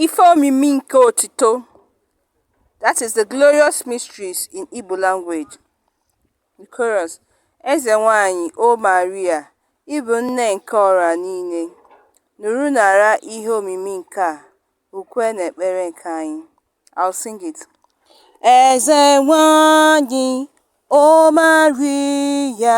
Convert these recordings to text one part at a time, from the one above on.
Ife omimi nke otito that is the glorious mysteries in Igbo language. The chorus Eze nwanyị O Maria, ị bụ nne nke ọra niile, nụrụ nara ihe omimi nke a, ukwe na ekpere nke anyị. I'll sing it. Eze nwanyị O Maria,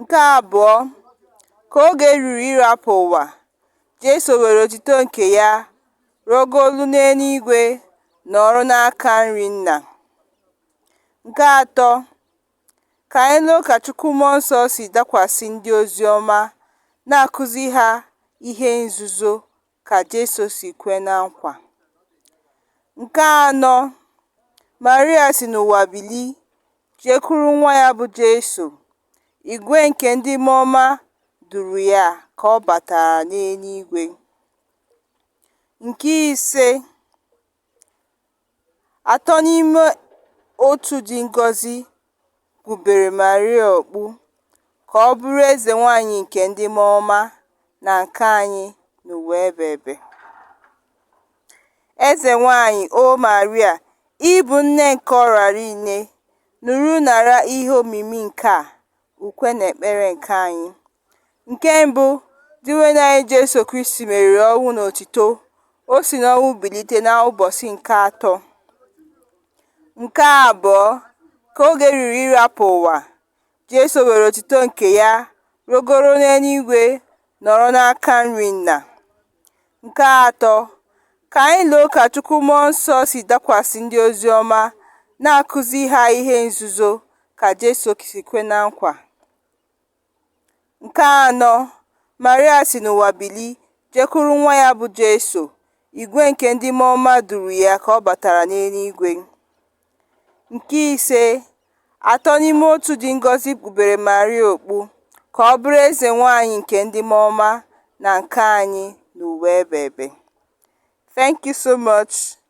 Nke abụọ, ka oge ruru ịrapụ ụwa, Jesu were otito nke ya rogolu n'enuigwe nọrọ n'aka nri Nna. Nke atọ, ka anyị loo ka Chukwu Mmụọ Nsọ si dakwasị ndị ozi ọma na-akụzi ha ihe nzuzo ka Jesu si kwe na nkwa. Nke anọ, Maria si n'ụwa bili jekwuru nwa ya bụ Jesu. Igwe nke ndị mmụọ ọma duru ya ka ọ batara n'enuigwe. Nke ise, Atọ n'ime otu dị ngọzi kpubere Maria okpu ka ọ bụrụ eze nwanyị nke ndị mmụọ ọma na nke anyị n'ụwa ebe ebe. Eze nwanyị, O Maria, ị bụ nne nke ọrara nile, nụrụ nara ihe omimi nke a, ukwe na ekpere nke anyị. Nke mbụ, Dinwenụ anyị Jesu Kristi meriri ọnwụ n'otito, o si n'ọnwụ bilite n'ụbọsị nke atọ. Nke abụọ, ka oge ruru ịrapụ ụwa, Jesu were otito nke ya rogoro n'enuigwe nọrọ n'aka nri Nna. Nke atọ, ka anyị loo ka Chukwu Mmụọ Nsọ si dakwasị ndị ozi ọma na-akụzi ha ihe nzuzo ka Jesu si kwe na nkwa. Nke anọ, Maria si n'ụwa bili jekwuru nwa ya bụ Jesu, igwe nke ndị mmụọ ọma duru ya ka ọ batara n'enuigwe. Nke ise, atọ n'ime otu dị ngọzi kpubere Maria okpu ka ọ bụrụ eze nwanyị nke ndị mmụọ ọma na nke anyị n'ụwa ebe ebe. Thank you so much.